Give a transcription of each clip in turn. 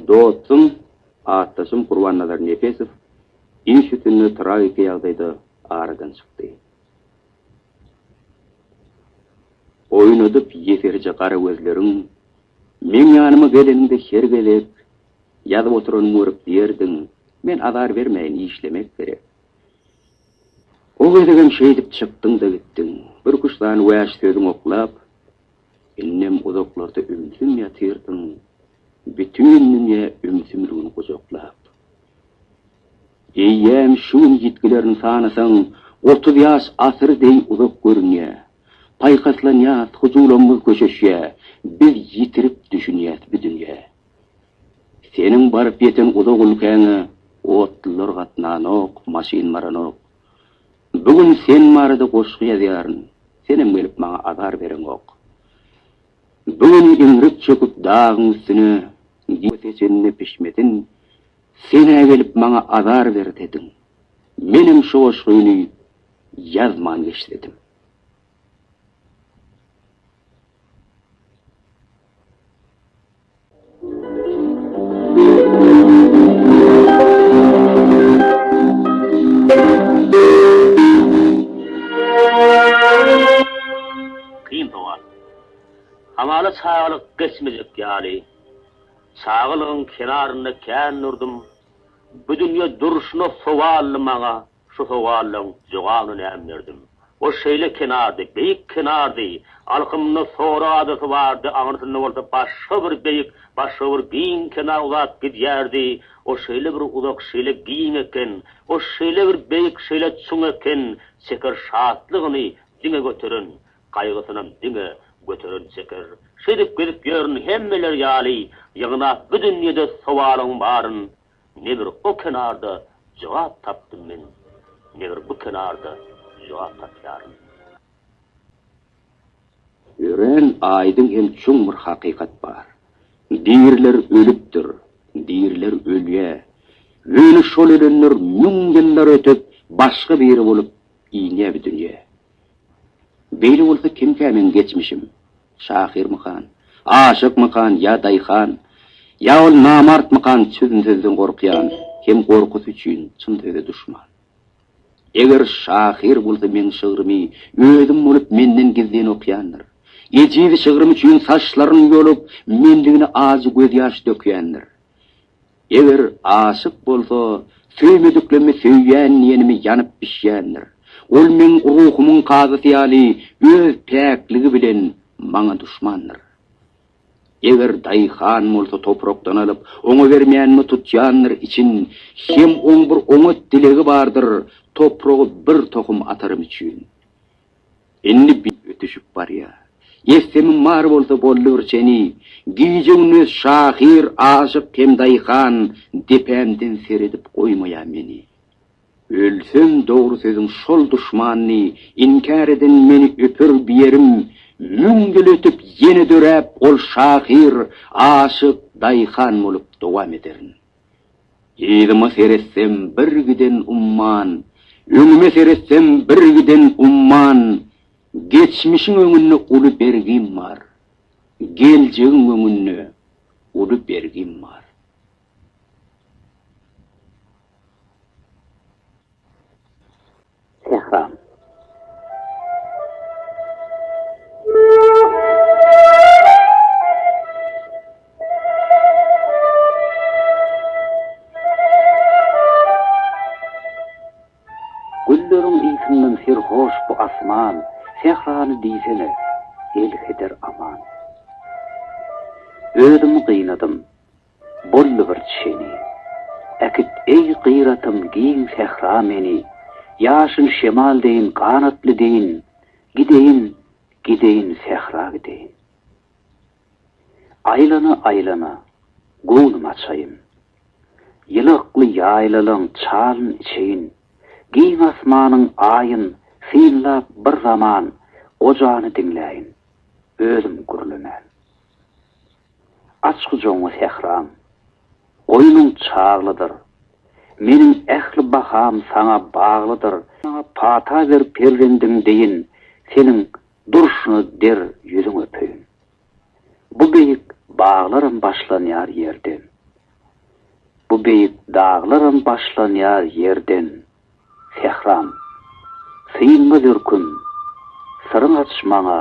Dostum, atdaşym Gurbannazar Nepesow iş üstünde tragiki ýagdaýda aradan çykdy. Oýnadyp ýeserje gara gözleriň, meň ýanyma geleniňde her gezek, ýazyp oturanymy görüp diýerdiň, men azar bermäýin, işlemek gerek. O gezegem şeýdip çykdyň-da gitdiň. Bir küştany wäş sözüň oklap, Indem uzaklarda ümsüm ýatyrdyň, Bütin dünýä ümsümligini gujaklap. Eýýäm şu gün ýitgilerini sanasaň, Otuz ýaş asyr deý uzak görünýär. Paýhaslanýas, hyjuwlarymyz köşeşýä, Biz ýitirip düşünýäs bi dünýä. Seniň baryp ýeten uzak ülkäňe Otlular gatnanok, maşyn baranok. Bu gün sen barada goşgy ýazýaryn, Senem gelip maňa azar bereňok. Bu gün iňrik çöküp dagyň üstüne, Diýip seçenine pişmesin, Sen-ä gelip maňa azar bersediň, Menem şu goşgyny ýazman geçsedim. Kyn sowal. Hamala çagalyk geçmejek ýaly. Çagalygyň kenarynda kän durdum. Bu dünýe durşuna sowally maňa Şu sowallaň jogabyny näm berdim? Ol şeýle kenardy, beýik kenardy, alkymynda Sora adasy bardy, aňyrsynda bolsa başga bir beýik, başga bir giň kenar uzap gidýärdi. Ol şeýle bir uzak, şeýle giň eken, ol şeýle bir beýik, şeýle çuň eken, Çeker şatlygyny diňe göteren, gaýgysynam diňe göteren Çeker. Şeýdip gezip ýörün, hemmeler ýaly, ýygnap bu dünýede sowalyň baryn. Ne bir o kenarda jogap tapdym men, ne bir bu kenarda jogap tapýaryn. Örän aýdyň hem çuň bir hakykat bar. Diriler ölüpdir, diriler ölýä. Ýöne şol ölenler müň ýyllar ötüp, başga biri bolup inýä bu dünýä. Beýle bolsa kimkä meň geçmişim? Şahyrmykan? Aşykmykan ýa daýhan? Ýa ol namartmykan çözüm sözden gorkýan hem gorkusy üçin çyn söze duşman? Eger şahyr bolsa meň şygrymy özüm bolup menden gizlin okýandyr. Ejiz şygrym üçin saçlaryny ýolup mendigine ajy gözýaş dökýändir. Eger aşyk bolsa, söýmediklerimi söýýän diýenimi ýanyp bişýändir. Ol meň ruhumyň kazysy ýaly öz päkligi bilen maňa duşmandyr. Eger daýhan bolsa toprakdan alyp, oňa bermänimi tutýandyr için, hem oň bir oňat dilegi bardyr, topragy bir tohum atarym üçin. Indi bir ötüşip barýar. Ýessemim bar bolsa boldy bir çeni. Gije-gündiz şahyr, aşyk hem daýhan, depämden seredip goýmaýar meni. Ölsem dogry sözüň şol duşmanny, inkär eden meni öper biýerim, müň ýyl ötüp ýene döräp ol şahyr, aşyk, daýhan bolup dowam ederin. Yzyma seretsem bir giden umman, Öňüme seretsem bir giden umman, Geçmişiň öňünde uly bergim bar, Geljegiň öňünde uly bergim bar. Tehran. Gülleriň ysyndan serhoş bu asman, Tehrany diýsene, elheder aman. Özümi gynadym, Boldy bir çeni. Äkit, eý, gyratym, giň sähra meni, Ýaşyl şemal deýin, ganatly deýin, Gideýin, gideýin, sähra gideýin. Aýlana-aýlana, göwnüm açaýyn. Ýylakly ýaýlalaň çalyn içeýin, Giň asmanyn, aýyn, synlap bir zaman, Gojany diňläýin, özüm gürlemän. Aç gujagyňy sähram. Goýnuň çaglydyr. Meniň ähli baham saňa baglydyr. Maňa pata ber perzendiň deýin, seniň durşuna der ýüzüň öpeýin. Bu beýik baglaram başlanýar ýerden. Bu beýik daglaram başlanýar ýerden, sähram. Synma dürküm, syryň aç maňa.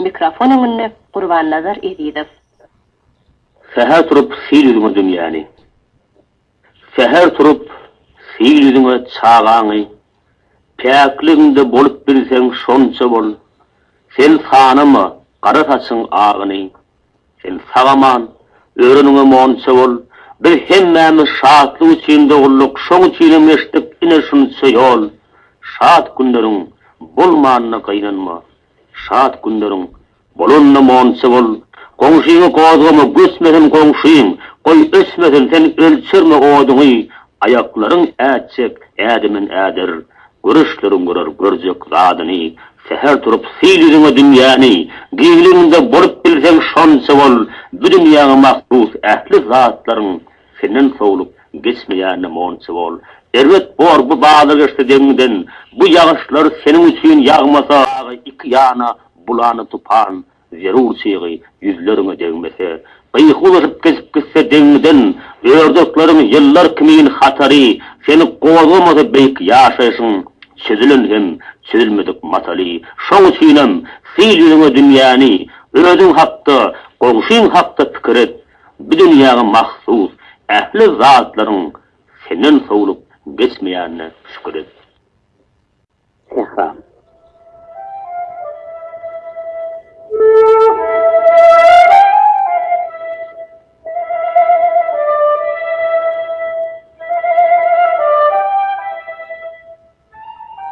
Mikrofon öňünde Gurbannazar Ezizow. Säher turup sil ýüzüňe dünýäni. Säher turup sil ýüzüňe çagaňy, Päkligiňde bolup bilseň şonça bol, Sen sanama gara saçyň agyny, Sen sag-aman, öreniňe monça bol, Biz hemmämiz şatlyk üçin dogulduk, şoň üçinem geçdik ine şunça ýol. Şat günleriň bolmanyna gynanma, Şat günleriň bolanyna monça bol. Goňşyňy gozgama, göçmesin goňşyň, Goý, öçmesin, sen ölçerme oduňy, Aýaklaryň ätjek ädimin äder, Göreçleriň görer görjek zadyny, Säher turup syl ýüzüňe dünýäni, Gizliniňde bolup bilseň şonça bol, Bu dünýäňe mahsus ähli zatlaryň Senden sowlup geçmeýänine monça bol. Erbet bor bu bazar geçse deňiňden, Bu ýagyşlar seniň üçin ýagmasa, Dagy iki ýana bulany tupan, Zerur çygy ýüzleriňe degmese, gyýyk uzaşyp geçip gitse deňňiden, Ördekleriň ýyllar kimin hatary seni gozgamasa beýik ýaşaýşyň çözülen hem çözülmedik mataly. Şoň üçinem, sil ýüzüňe dünýäni, özüň hakda, goňşyň hakda pikir et, bu dünýäňe mahsus ähli zatlaryň senden sowlup geçmeýänine şükür et. Dessan.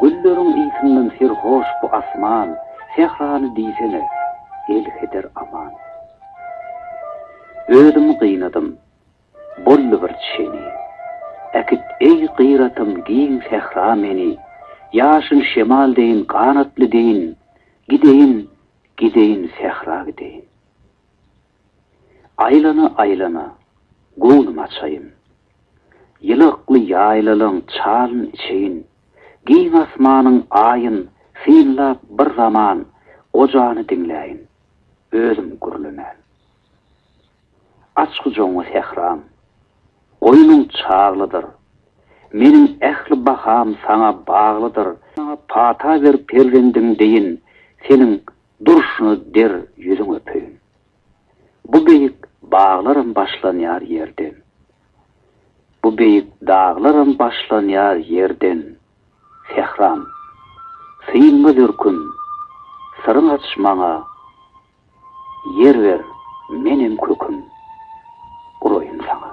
Gülleriň ysyndan serhoş bu asman, Sährany diýsene, elheder aman. Özümi gynadym. Boldy bir çeni. Äkit, eý, gyratym, giň sähra meni, Ýaşyl şemal deýin, ganatly deýin, Gideýin, gideýin, sähra gideýin. Aýlana-aýlana, göwnüm açaýyn. Ýylakly ýaýlalaň çalyn içeýin, Giň asmanyn, aýyn, synlap bir zaman, Gojany diňläýin, özüm gürlemän. Aç gujagyňy sähram. Goýnuň çaglydyr. Meniň ähli baham saňa baglydyr. Maňa pata ber perzendim deýin, seniň durşuna der ýüzüň öpeýin. Bu beýik baglaram başlanýar ýerden. Bu beýik daglaram başlanýar ýerden, sähram. Synma dürküm, syryň aç maňa. Ýer ber, menem köküm uraýyn saňa.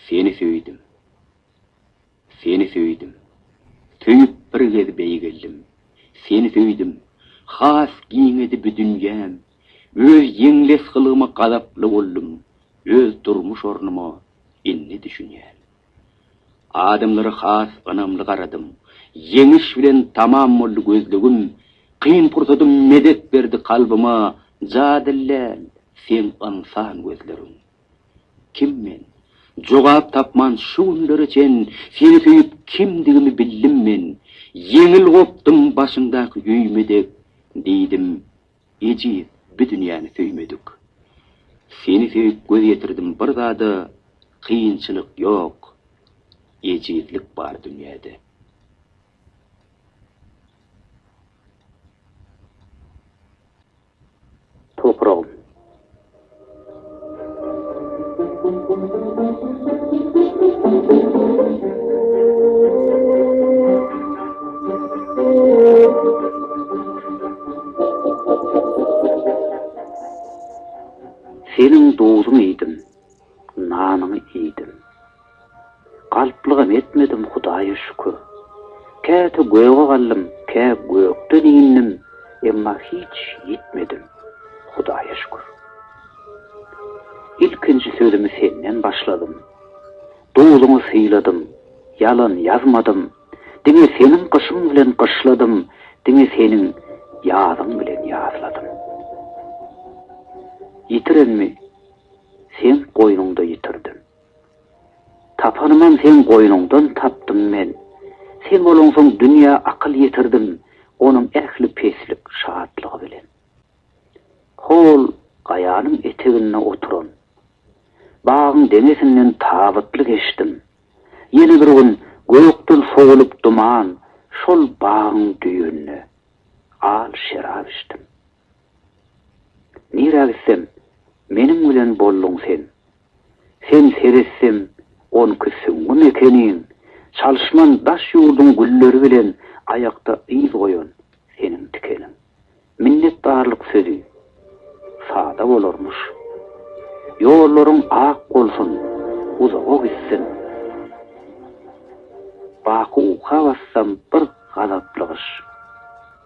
Seni söýdüm. Seni söýdüm. Söýüp bir gez beýgeldim. Seni söýdüm. Has giňedi bu dünýäm. Öz ýeňles gylgyma gazaply boldum. Öz durmuş ornuma indi düşünýän. Adamlara has ynamly garadym. Ýeňiş bilen tamam boldy gözlegim. Kyn pursadym medet berdi kalbyma. Jadylläl, seň ynsan gözleriň. Kim men? Jogap tapman şu günlere çen seni söýüp kimdigimi bildim men Ýeňil gopdum başyňdaky ýüýme dek Diýdim, ejiz bi dünýäni söýmedik Seni söýüp göz ýetirdim bir zada Kynçylyk ýok, ejizlik bar dünýäde. Topragym. Seniň duzuňy iýdim, nanyňy iýdim. Galplygam etmedim Hudaýa şükür. Käte göge galdym, kä gökden indim, emma hiç ýitmedim Hudaýa şükür. Ilkinji sözümi senden başladym. Duzuňy syladym, ýalan ýazmadym, diňe seniň gyşyň bilen gyşladym, diňe seniň ýazyň bilen ýazladym. Ýitirenmi, seň goýnuňda ýitirdim. Tapanymam seň goýnuňdan tapdym men. Sen bolaňsoň dünýä akyl ýetirdim onuň ähli peslik şatlygy bilen. Hol gaýanyň eteginde oturan. Bagyň deňesinden tabytly geçdim. Ýene bir gün gökden sowulyp duman şol bagyň düýünde. Al şerap içdim. Nirä gitsem, meniň bilen bolduň sen. Sen seretsem, onki süňňi mekeniň, Çalyşman daş ýurduň gülleri bilen Aýakda yz goýan seniň tikeniň. Minnetdarlyk sözi sada bolarmyş. Ýollaryň ak bolsun, uzaga gitsin. Baky uka bassam bir gazaply gyş.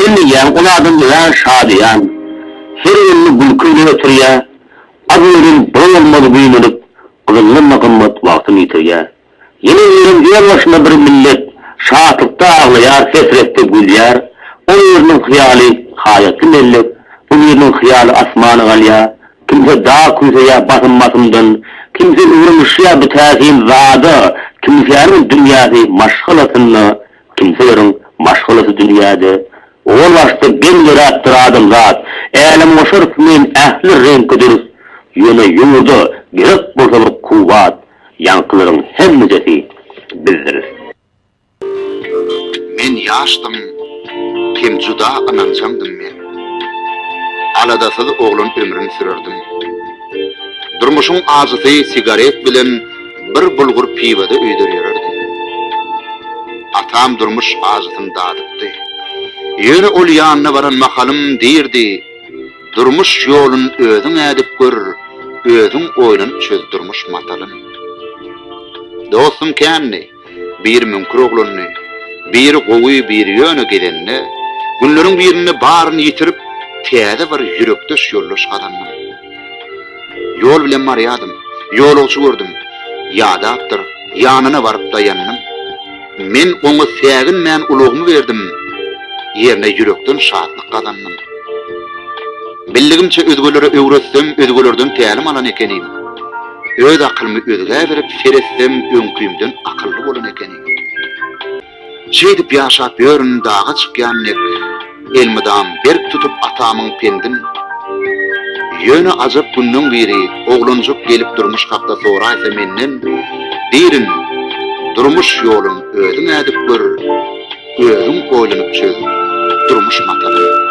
Sen diýýäň, ol adam örän şadyýan, her gününi gülki bilen geçirýär, az-mözem bir bolmaz güýmenip, gyzyllanma gymmat wagtyny ýitirýär. Ýene birem öz başyna bir millet, Şatlykda aglaýar, hesretde gülýär, O biriniň hyýaly haýatly mellek, Bu biriniň hyýaly asmana galýar. Kimse dag küýseýär basym-basymdan, Kimse ugramyşýar bu täsin zada, Kimsäniň dünýäsi maşgalasynda, Kimseleriň maşgalasy dünýäde. Owal başda geň döräpdir adamzat, Älemgoşar kimin ähli reňki dürs, Ýöne ýurda gerek bolsalar kuwwat. Ýaňkylaryň hemmidesi bizdiris. Men ýaşdym hem juda ynanjaňdym men. Aladasyz oglan ömrün sürerdim. Durmuşyň ajysy sigaret bilen bir bulgur piwada öýder ýörerdim. Atam durmuş ajysyn dadypdy. Ýöne ol ýanyna baran mahalym diýrdi. Durmuş ýolun özüň ädip gör, Özüň oýlanyp çöz durmuş matalyn. Dostum kändi, biri müňkür oglandy, Biri gowy, biri ýöne gezende, Günleriň birinde baryny ýitirip, Täze bir ýürekdeş ýoldaş gazandym. Ýol bilen barýardym. Ýolagçy gördüm. Ýadapdyr. Ýanyna baryp daýandym. Men oňa säginmän ulagymy berdim. Ýerine ýürekden şatlyk gazandym. Bildigimçe özgelere öwretsem, özgelerden tälim alan ekenim. Öz akylymy özgä berip seretsem öňkümden akylly bolan ekenim. Şeýdip ýaşap ýörün daga çykýan dek elmydam berk tutup atamyň pendin Ýöne ajap günleň biri oglanjyk gelip durmuş hakda soraýsa menden Dirin durmuş ýolun özüň ädip gör özüň oýlanyp çöz durmuş matalyn.